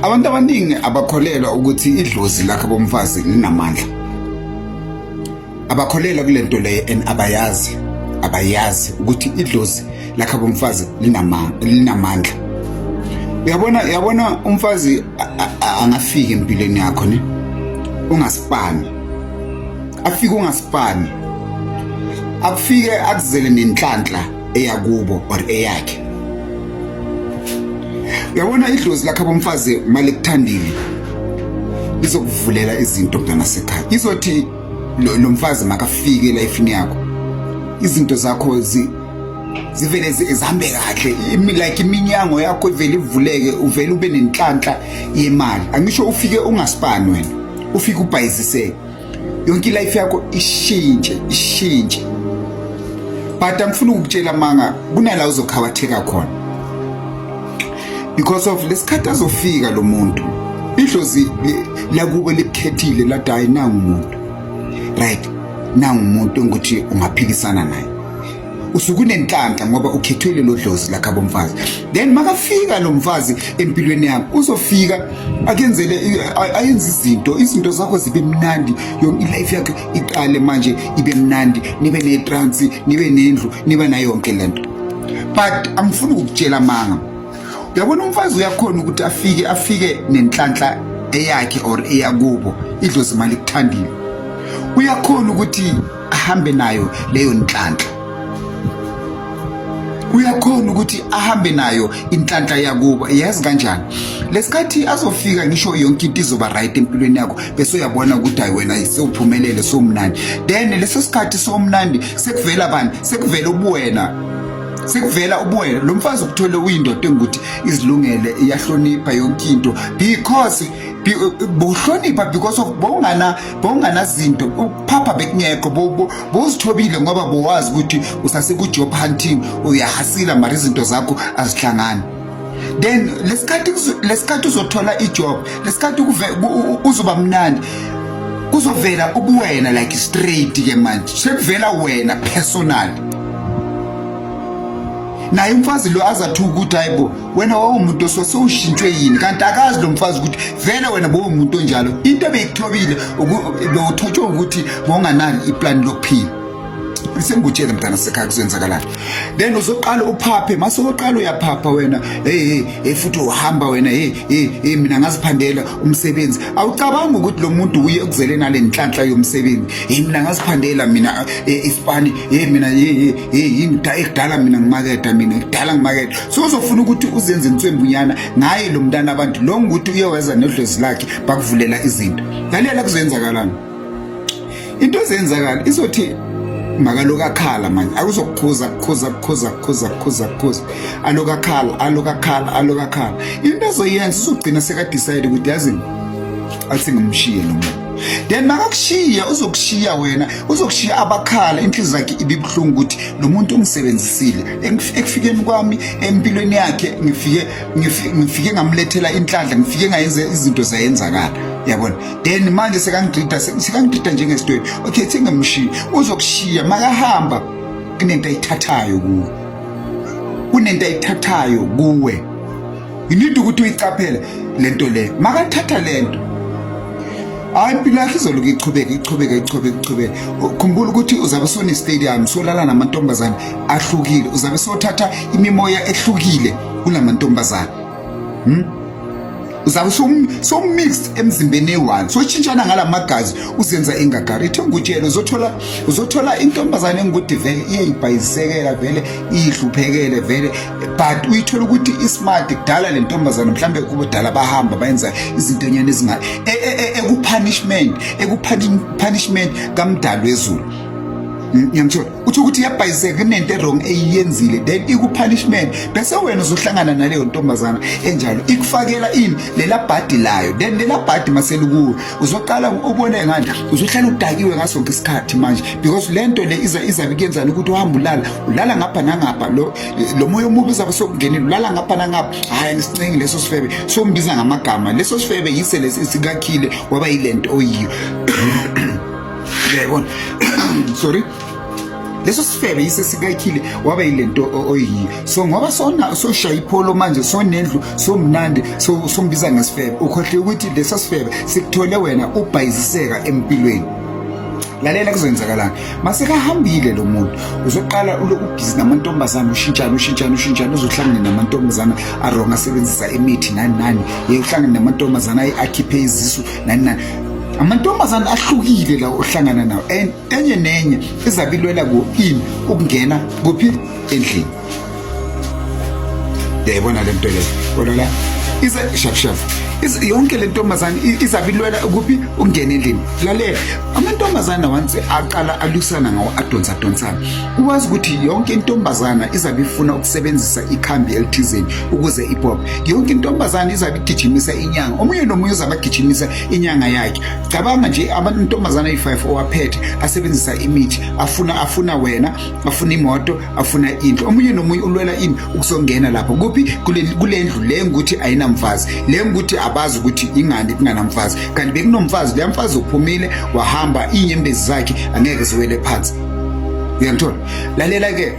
abantu abaningi abakholelwa ukuthi idlozi lakhe bomfazi linamandla abakholelwa kule nto leyo and abayazi abayazi ukuthi idlozi lakhe bomfazi linamandla uyabona uyabona umfazi angafiki empilweni yakho ne ungasipani afike ungasipani akufike akuzele nenhlanhla eyakubo or eyakhe uyabona idlozi lakhe abomfazi uma likuthandile lizokuvulela izinto mntana sekhaya izothi lo mfazi makafike elifini yakho izinto zakho zi zivele zihambe kahle like iminyango yakho ivele ivuleke uvele ube nenhlanhla yemali angisho ufike ungasipani wena ufike ubhayiziseke yonke ilife yakho ishintshe ishintshe but angifuni ukutshela manga kunala uzokhawatheka khona because of lesikhathi azofika lo muntu idlozi lakubo likhethile lathi hayi nangu umuntu right nangu umuntu engukuthi ungaphikisana naye usukunenhlanhla ngoba ukhethwe lelo dlozi lakhabo mfazi then makafika lo mfazi empilweni yakho uzofika akenzele ayenze izinto izinto zakho zibe mnandi yonke ilife yakhe iqale manje ibe mnandi nibe netransi nibe nendlu nibe nayo yonke lento but angifuni ukukutshela manga uyabona umfazi uyakhona ukuthi afike afike nenhlanhla eyakhe or eyakubo idlozi imali kuthandile uyakhona ukuthi ahambe nayo leyo nhlanhla uyakhona ukuthi ahambe nayo inhlanhla yakubo yazi kanjani lesikhathi azofika ngisho yonke into izoba right empilweni yakho bese uyabona ukuthi hayi wena sewuphumelele somnandi then leso sikhathi somnandi sekuvela bani sekuvela ubuwena sekuvela ubuwena lo mfazi ukuthole uyindoda engukuthi izilungele iyahlonipha yonke into because bohlonipha because of bongana bowunganazinto ukuphapha bekungekho bowuzithobile ngoba bowazi ukuthi usasekujob hunting uyahasila mara izinto zakho azihlangani then lesikhathi lesikhathi uzothola ijob lesikhathi uzoba mnandi kuzovela ubuwena like straight ke manje sekuvela wena personal naye umfazi lo azathuka ukuthi hayibo wena wawumuntu osose ushintshwe yini kanti akazi lo mfazi ukuthi vele wena bowumuntu onjalo into ebeyikuthobile bewuthotshwe ukuthi bowunganani iplani lokuphila sengikutshele mntana sekhaya kuzenzakalani then uzoqala uphaphe mase uqala uyaphapha wena hey hey futhi uhamba wena hey hey mina ngaziphandela umsebenzi awucabanga ukuthi lo muntu uye ukuzele nale nhlanhla yomsebenzi hey mina ngaziphandela mina eh, ispani hey mina hey hey yini ekudala mina ngimaketha mina kudala ngimaketha so uzofuna ukuthi uzenze inswembunyana ngaye lo mntana abantu lo ngukuthi uye weza nodlozi lakhe bakuvulela izinto lalela kuzoyenzakalani into ezenzakala izothi makaloku akhala manje akuzokukhuza kukhuza kukhuza kukhuza kukhuza kukhuza aloku akhala aloku akhala aloku akhala into ezoyenza uzogcina sekadicide ukuthi yazini athi ngimshiye lo muntu then makakushiya uzokushiya wena uzokushiya abakhala inhliziyo yakhe ibibuhlungu ukuthi lo muntu ungisebenzisile ekufikeni kwami empilweni yakhe ngifike ngifike ngamlethela inhlanhla ngifike ngayenza izinto zayenzakala yabona then manje sekangidida sekangidida njengesitweni okay thingamshiya uzokushiya makahamba kunento ayithathayo kuwe kunento ayithathayo kuwe you need ukuthi uyicaphele lento le makathatha lento hayi impilo yakhe izoloku iqhubeke iqhubeke iqhubeke iqhubeke khumbula ukuthi uzabe sone stadium solala namantombazane ahlukile uzabe sothatha imimoya ehlukile kunamantombazane hmm? uzabe so mixed emzimbeni eyi-one soshintshana ngala magazi uzenza ingagari ithe ngikutshela uzothola uzothola intombazane engikude vele iyayibhayisekela vele iyihluphekele vele but uyithola ukuthi ismart kudala le ntombazana mhlawumbe kubudala bahamba bayenza izintonyana ezinga e, e, e, ekupunishment ekupunishment kamdali wezulu ngiyamthola uthi ukuthi iyabhayizeka kunento erong eyiyenzile then ikupunishment bese wena uzohlangana naleyo ntombazana enjalo ikufakela ini lela bhadi layo then lela bhadi maselukuwe uzoqala ubone ngani uzohlala udakiwe ngaso ngesikhathi manje because lento le iza izabe kuyenzana ukuthi uhamba ulala ulala ngapha nangapha lo lo moya omubi uzabe sokungenile ulala ngapha nangapha hhayi ngisicingi leso sifebe sombiza ngamagama leso sifebe yise lesi sikakhile waba yile nto oyiyo uyayibona sorry leso sifebe yise sikakhile waba yile nto oyiyo so ngoba sona soshaya ipholo manje sonendlu somnandi sombiza ngesifebe ukhohle ukuthi leso sifebe sikuthole wena ubhayiziseka empilweni lalela kuzoyenzakalani masekahambile lo muntu uzoqala uloku busy namantombazana ushintshana ushintshana ushintshana uzohlangana namantombazana aronga asebenzisa imithi nani nani ye uhlangana namantombazana akhiphe izisu nani nani amantombazana ahlukile lawo ohlangana nawo and enye nenye izabilwela ku in ukungena kuphi endlini yayibona le nto le bona la ize shapshap yonke le ntombazane izabilwela kuphi ukungena endlini lalela amantombazane once aqala alusana ngawo adonsa donsana uwazi ukuthi yonke intombazana izabe ifuna ukusebenzisa ikhambi elithizeni ukuze ipop yonke intombazane izabe igijimisa inyanga omunye nomunye uzabe agijimisa inyanga yakhe cabanga nje amantombazane ayi-five owaphethe asebenzisa imithi afuna afuna wena afuna imoto afuna indlu omunye nomunye ulwela ini ukuzongena lapho kuphi kule ndlu le ngukuthi ayinamfazi le ngukuthi abazi ukuthi ingani kunganamfazi kanti bekunomfazi leya mfazi uphumile wahamba iy'nyembezi zakhe angeke ziwele phansi uyangithola lalela-ke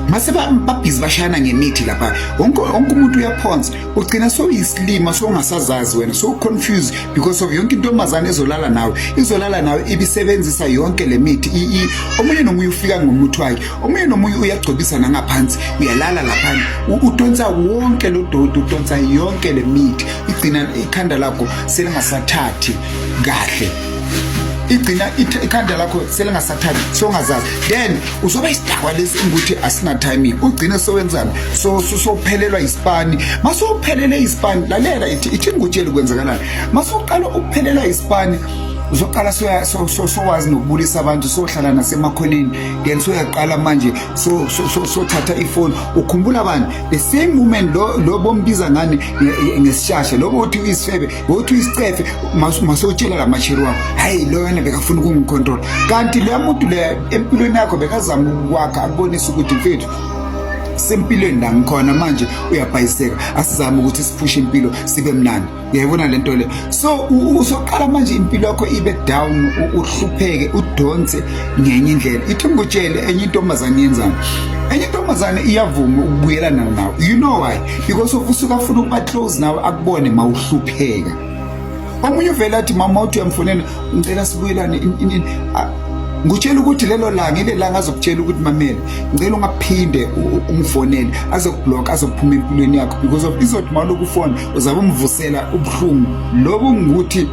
mase babhizi bashayana ngemithi lapha wonke umuntu uyaphonsa ugcina sowuyisilima songasazazi wena sowuconfuse because of yonke intombazane ezolala nawe izolala nawe ibisebenzisa yonke le mithi ii omunye nomunye ufika ngomuthi wakhe omunye nomunye uyagcobisa nangaphansi uyalala laphana udonsa wonke lo dodi udonsa yonke le mithi igcina ikhanda lakho selingasathathi kahle igcina ikhanda lakho selingasathabi songazazi then uzoba isidakwa lesi ukuthi asina-timing ugcine sowenzani sophelelwa isipani masowuphelele isipani lalela ithi ngikutsheli kwenzakalani masowuqala ukuphelelwa isipani uzoqala sowazi nokubulisa abantu sohlala nasemakhoneni then soyaqala manje sothatha ifoni ukhumbula bani the same moment lo bombiza ngani ngesishasha lobo uthi uyisifebe wothi uyisicefe masewutshela la masheri wakho hhayi loyona bekafuna ukungikhontrola kanti loya muntu le empilweni yakho bekazama ukwakha akubonisa ukuthi mfethu sempilweni la ngikhona manje uyabhayiseka asizame ukuthi siphushe impilo sibe mnandi uyayibona le nto le so usoqala manje impilo yakho ibe down uhlupheke udonse ngenye indlela ithi ngikutshele enye intombazane yenzani enye intombazane iyavuma ukubuyelana nawo you know why because usuke afuna ukuba close nawe akubone mawuhlupheka omunye uvela athi mama uthi uyamfonela ngicela sibuyelane ngutshela ukuthi lelo langa ile langa azokutshela ukuthi mamela ngicela ungaphinde umfonele azokublock azophuma empilweni yakho because of izothi mawulokhu ufona uzabe umvusela ubuhlungu lobu ngukuthi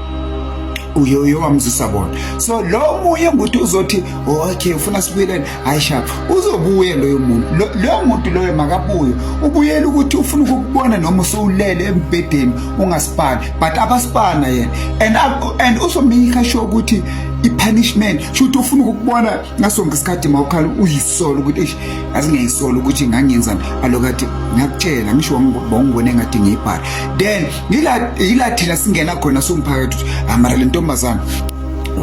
uyoyo wamzisa bona so lo munye ngukuthi uzothi okay ufuna sibuyelene hayi shaba uzobuye loyo muntu loyo muntu loyo makabuye ubuyela ukuthi ufuna ukukubona noma usowulele embhedeni ungasipani but abasipana yena and and uzomika sho ukuthi ipunishment shuthi ufuna ukukubona ngasonke isikhathi mawukhala uyisola ukuthi eish asingeyisola ukuthi ngangenzani alokati ngiyakutshela ngisho wangibona engathi ngiyibhala then yila thina singena khona somphakathi ukuthi amara lentombazana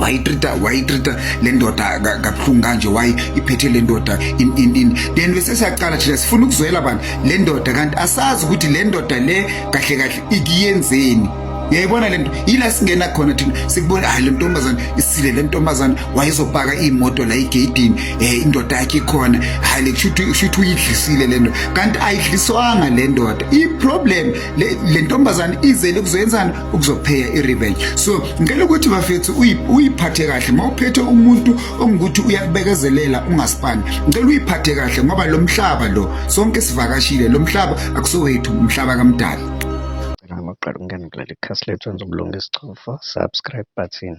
wayitrita wayitrita le ndoda kabuhlungu kanje wayi iphethe le ndoda in in in then bese siyaqala thina sifuna ukuzwela abantu le ndoda kanti asazi ukuthi le ndoda le kahle kahle ikiyenzeni yayibona lento yila singena khona thina sikubona hayi lentombazana isile lentombazana wayezopaka imoto la igedini eh indoda yakhe khona hayi lekushuthi ushuthi uyidlisile lento kanti ayidliswanga lendoda i problem lentombazana izele kuzoyenzana ukuzopheya i-revenge so ngicela ukuthi bafethu uyiphathe kahle uma uphethe umuntu ongukuthi uyakubekezelela ungasipani ngicela uyiphathe kahle ngoba lo mhlaba lo sonke sivakashile lo mhlaba akusowethu umhlaba kamdala cela ngokuqala ukungena kuleli khasi lethu wenza ubulunga isichofo subscribe button